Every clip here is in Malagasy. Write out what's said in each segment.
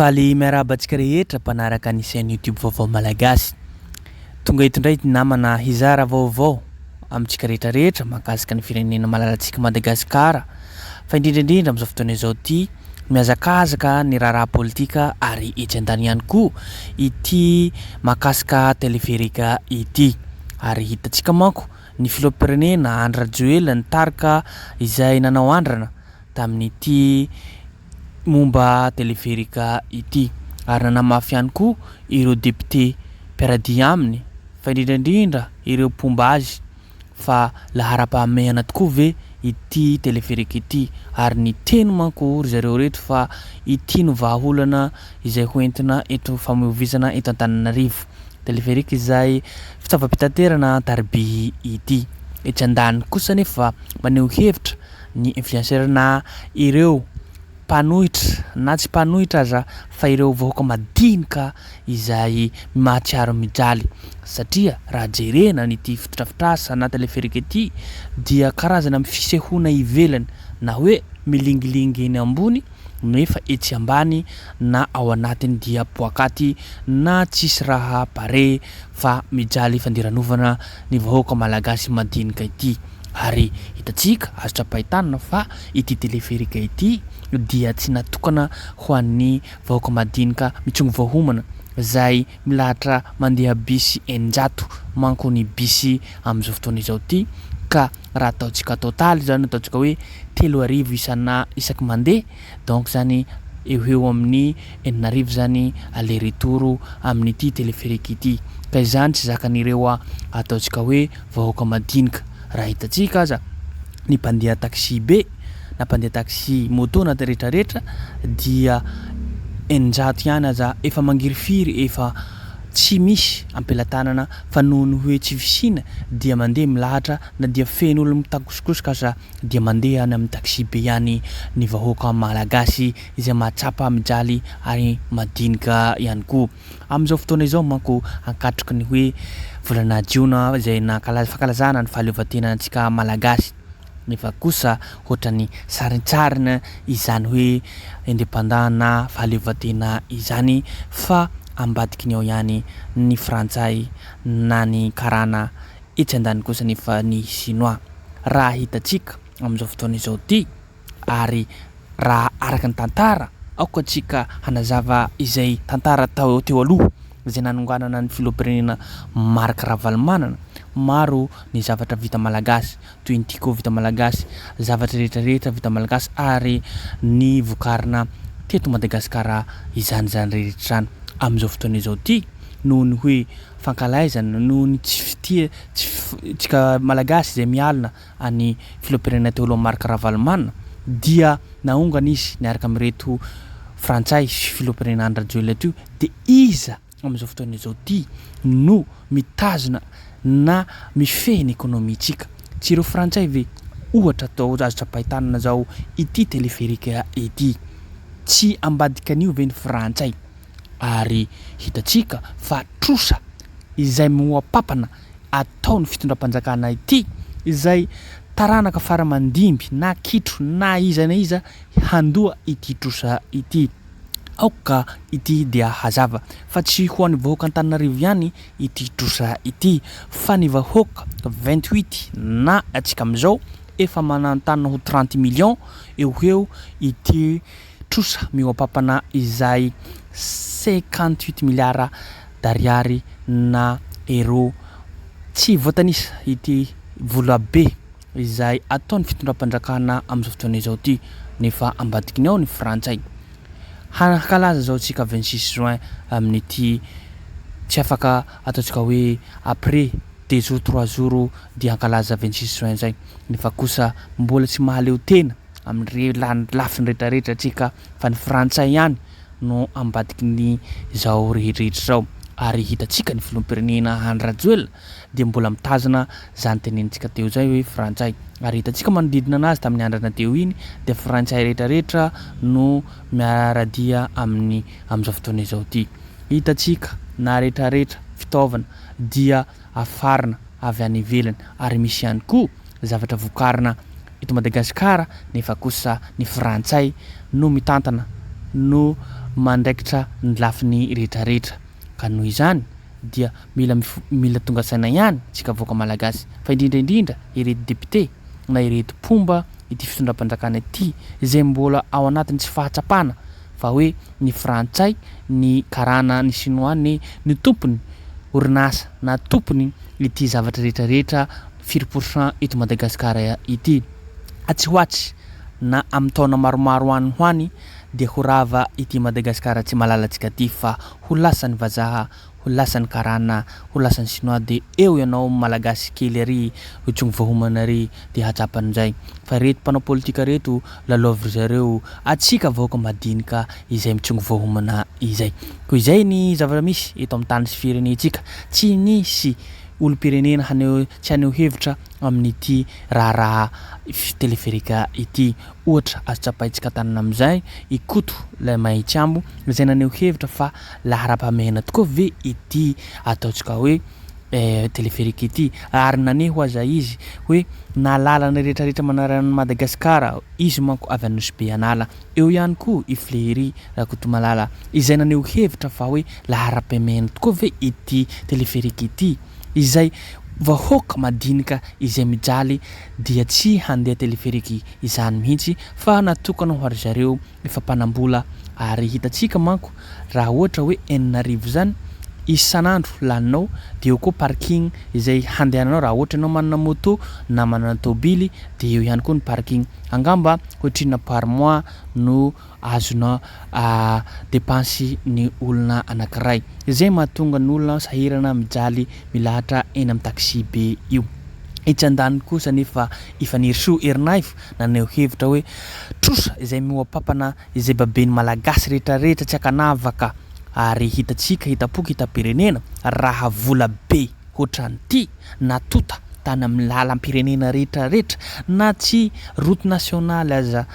Faly miarahaba antsika rehetra mpanaraka ny chaîne YouTube Vaovao Malagasy. Tonga eto indray ity namana hizara vaovao amintsika rehetra rehetra mahakasika ny firenena malalantsika Madagasikara fa indrindra indrindra amin'izao fotoana izao ity mihazakazaka ny raharaha politika ary etsy an-tany ihany koa ity mahakasika teleferika ity ary hitantsika manko ny filoham-pirenena Andry Rajoelina ny tarika izay nanao andrana tamin'ity momba teleferika ity ary nanamafy ihany koa ireo depiote mpiara-dia aminy fa indrindra indrindra ireo mpomba azy fa laharam-pahamehana tokoa ve ity teleferika ity ary niteny manko ry zareo reto fa ity no vahaolana izay ho entina eto famoivoizana eto Antananarivo teleferika izay fitaovam-pitaterana an-tariby ity etsy andaniny kosa anefa maneho hevitra ny influencer-na ireo mpanohitra na tsy mpanohitra aza fa ireo vahoaka madinika izay mahatsiaro mijaly satria raha jerena an'ity fotodrafitrasa na teleferika ity dia karazana fisehoana ivelany na hoe milingilingy eny ambony no efa etsy ambany na ao anatiny dia poakaty na tsisy raha pare fa mijaly fandiranovana ny vahoaka malagasy madinika ity. Ary hitantsika azo tsapain-tanana fa ity teleferika ity dia tsy natokana ho an'ny vahoaka madinika mitsongo vao homana, izay milahatra mandeha bisy eninjato manko ny bisy amin'izao fotoana izao ity, ka raha ataontsika total izany, ataontsika hoe telo arivo isana isaky mandeha, Donc zany eo ho eo amin'ny enina arivo zany aller retour amin'ity téléphérique ity. Ka izany tsy zakan'ireo ataontsika hoe vahoaka madinika. Raha hitantsika aza ny mpandeha taxi be na mpandeha taxi moto na rehetra rehetra dia eninjato ihany aza efa mangirifiry efa tsy misy ampelatanana fa noho ny hoe tsy fisiana dia mandeha milahatra na dia feno olona mitakosikosoka aza dia mandeha any amin'ny taxi-be ihany ny vahoaka malagasy izay mahatsapa mijaly ary madinika ihany koa. Amin'izao fotoana izao manko ankatroky ny hoe volana jiona izay nankalaza fankalazana ny fahaleovantenantsika malagasy nefa kosa ohatran'ny sarintsarina izany hoe independant na fahaleovantena izany fa ambadiky ny ao ihany ny frantsay na ny karana Etsy andaniny kosa anefa ny Shinoa, raha hitantsika amin'izao fotoana izao ity, ary raha araka ny tantara, aoka tsika hanazava izay tantara tao teo aloha, izay nanonganana ny filoham-pirenena Marc Ravalomanana, maro ny zavatra vita malagasy, toy ny Tiko vita malagasy, zavatra rehetra rehetra vita malagasy ary ny vokarina teto Madagasikara izany izany rehetra izany, amin'izao fotoana izao ity, noho ny hoe, fankalaizana noho ny tsy fitia tsy fitsika Malagasy izay mialona an'i Filoham-pirenena teo aloha Marc Ravalomanana dia naongana izy niaraka amin'ireto Frantsay sy Filoham-pirenena Andry Rajoelina teo dia iza amin'izao fotoana izao ity no mitazona na mifehy ny ekonomintsika? Tsy ireo Frantsay ve? Ohatra atao azo tsapain-tanana izao ity téléphérique ity. Tsy ambadikan'io ve ny Frantsay? ary hitantsika fa trosa izay mihoa-papana ataon'ny fitondram-panjakana ity izay taranaka fara mandimby na kitro na iza na iza handoa ity trosa ity. Aoka ity dia hazava fa tsy ho an'ny vahoaka Antananarivo ihany ity trosa ity fa ny vahoaka vingt huit na antsika amin'izao efa manantany ho trente millions eo ho eo ity trosa mihoa-pampana izay cinquante huit milliards d'ariary na euro tsy voatanisa ity vola be izay ataon'ny fitondram-panjakana amin'izao fotoana izao ity nefa ambadikiny ao ny frantsay. Hankalaza izao isika vingt six juin amin'ity tsy afaka ataontsika hoe après deux jours trois jours dia hankalaza vingt six juin izay nefa kosa mbola tsy mahaleo tena. amin'ireny lafiny rehetrarehetra antsika fa ny frantsay ihany no ambadiky ny izao rehetrarehetra izao ary hitantsika ny filoham-pirenena Andry Rajoelina dia mbola mitazona izany tenenintsika teo izay hoe frantsay ary hitantsika manodidina anazy tamin'ny andrana teo iny dia frantsay rehetrarehetra no miaradia aminy amin'izao fotoana izao ity hitantsika na retraretra fitaovana dia afarina avy any ivelany ary misy ihany koa zavatra vokarina eto Madagasikara nefa kosa ny frantsay no mitantana no mandraikitra ny lafiny retraretra ka noho izany dia mila mila tonga saina ihany tsika vahoaka malagasy fa indrindra indrindra ireto député na ireto mpomba ity fitondram-panjakana ity zay mbola ao anatiny tsy fahatsapana fa hoe ny frantsay, ny karana, ny sinoa ne no tompony orinasa na tompony ity zavatra rehetra rehetra firy pour cent eto Madagascar ity. Atsy ho atsy na amin'ny taona maromaro any ho any dia ho rava ity Madagascar tsy malalantsika ity fa ho lasan'ny vazaha ho lasan'ny karana, ho lasan'ny sinoa de eo ianao malagasy kely ary io tsy mivahomana ary de hatsapany njay. Fa reto mpanao politika reto lalaovin-dry zareo atsika vahoaka madinika izay mitsongovahomana izay. Ko izay ny zavatra misy eto amin'ny tany sy firenentsika. Tsy misy olom-pirenena haneho tsy haneho hevitra amin'ity raharaha teleferika ity. Ohatra azo tsapaintsika an-tanana amin'izay i Koto ilay Mahitsy Ambo izay naneho hevitra fa Laharam-pahamehana tokoa ve ity ataontsika hoe téléphérique ity? Ary naneho aza izy hoe na lalana rehetra rehetra manarana an'i Madagascar aho. Izy manko avy Anosy be an'ala. Eo ihany koa i Fléhérie Rakotomalala izay naneho hevitra fa hoe laharam-pahamehana tokoa ve ity téléphérique ity? Izay vahoaka madinika izay mijaly dia tsy handeha téléphérique izany mihitsy fa natokana ho ary zareo ny fampanam-bola ary hitantsika manko raha ohatra hoe enina arivo izany isan'andro laninao dia eo koa parking izay handehananao raha ohatra ianao manana moto na manana tôbily dia eo ihany koa ny parking angamba ohatrinona par mois no azonao depansy ny olona anankiray izay mahatonga ny olona sahirana mijaly milahatra eny amin'ny taxi be io. Etsy andaniny kosa anefa i Fanirisoa Erinaivo Naneho hevitra hoe trosa izay mihoa-pampana izay baben'ny Malagasy rehetrarehetra tsy ankanavaka ary hitantsika hitam-poko hitam-pirenena raha vola be hoatran'ity na tonta tany amin'ny lalam-pirenena rehetrarehetra na tsy route nationale aza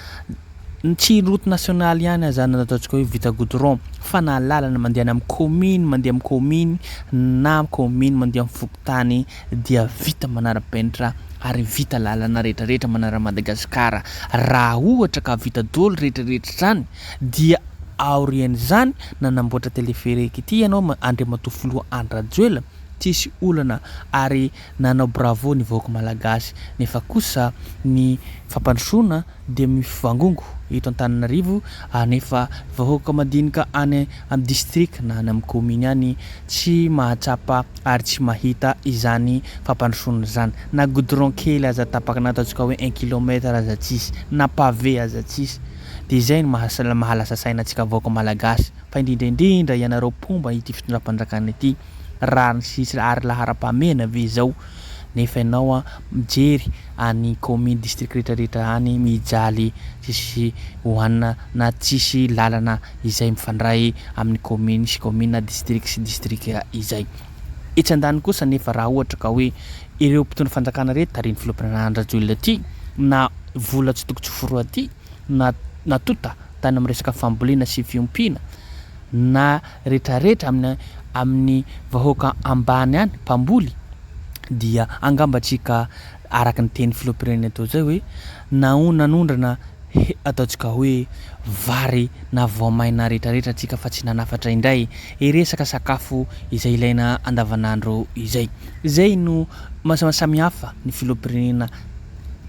tsy route nationale ihany aza na ataontsika hoe vita goudron fa na lalana mandeha any amin'ny commune mandeha amin'ny commune na commune mandeha amin'ny fokontany dia vita manarapenitra ary vita lalana retraretra manara Madagascar raha ohatra ka vita doly retraretra zany dia aorian'izany nanamboatra telefereque ity ianao Andriamatoa Filoha Andry Rajoelina tsisy olana ary nanao bravo ny vahoaka malagasy nefa kosa ny fampandrosoana dia mivangongo eto Antananarivo anefa vahoaka madinika any amin'ny distrika na any amin'ny kaominy any tsy mahatsapa ary tsy mahita izany fampandrosoana izany. Na goudron kely aza tapaka na ataontsika hoe un kilomètre aza tsisy, na pavé aza tsisy. Dia izay no maha lasa saina antsika vahoaka malagasy, fa indrindra indrindra ianareo mpomba ity fitondram-panjakana ity. raha ny sisa ary laharam-pahamehana ve izao nefa ianao an mijery any kaominy district rehetra rehetra any mijaly tsisy hohanina na tsisy lalana izay mifandray amin'ny kaominy sy kaominy na district sy district izay etsy andaniny kosa nefa raha ohatra ka hoe ireo mpitondra fanjakana rehetra tarihin'ny filoham-pirenana Andry Rajoelina ity na vola tsy toko tsy foroha ity na natonta tany amin'ny resaka fambolena sy fiompiana na retraretra amin'ny amin'ny vahoaka ambany any, mpamboly, dia angamba tsika araka ny teny filoham-pirenena teo zay hoe naho nanondrana he ataontsika hoe vary na voamaina retraretra tsika fa tsy nanafatra indray e resaka sakafo izay ilaina andavanandro izay. Zay no maha samihafa ny filoham-pirenena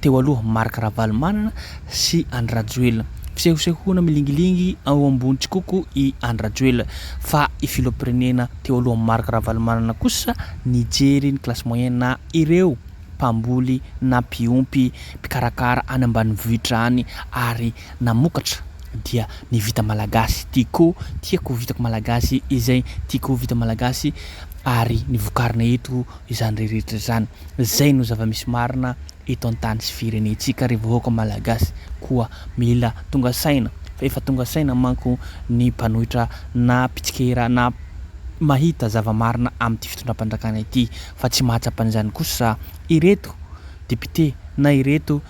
teo aloha Marc Ravalomanana sy Andry Rajoelina. Fisehosehoana milingilingy ao ambony tsikoko i Andry Rajoelina fa i filoham-pirenena teo aloha Marc Ravalomanana kosa nijery ny classe moyenne na ireo mpamboly na mpiompy, mpikarakara any ambanivohitra any ary namokatra dia ny vita malagasy. Tiako, tiako vitako malagasy izay tiako vita malagasy ary ny vokarina eto izany rehetra izany. Zay no zava-misy marina eto an-tany sy firenentsika ry vahoaka Malagasy koa mila tonga saina fa efa tonga saina manko ny mpanohitra na mpitsikera na mahita zava-marina amin'ity fitondram-panjakana ity fa tsy mahatsapa an'izany kosa ireto Député na ireto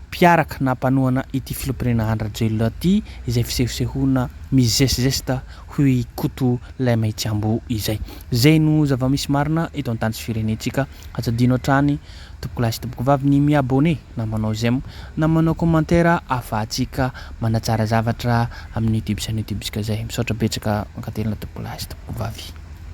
mpiaraka na mpanohana ity Filoham-pirenena Andry Rajoelina ity izay fisehosehoana mizesizesta hoy i Koto ilay Maitseambo izay. Izay no zava-misy marina eto an-tany sy firenentsika. Aza adino hatrany tompokolahy sy tompokovavy ny mi-abonné na manao j'aime na manao commentaire ahafahantsika manatsara zavatra amin'ny youtube chaîne youtube-ntsika izay. Misaotra betsaka, mankatelina tompokolahy sy tompokovavy.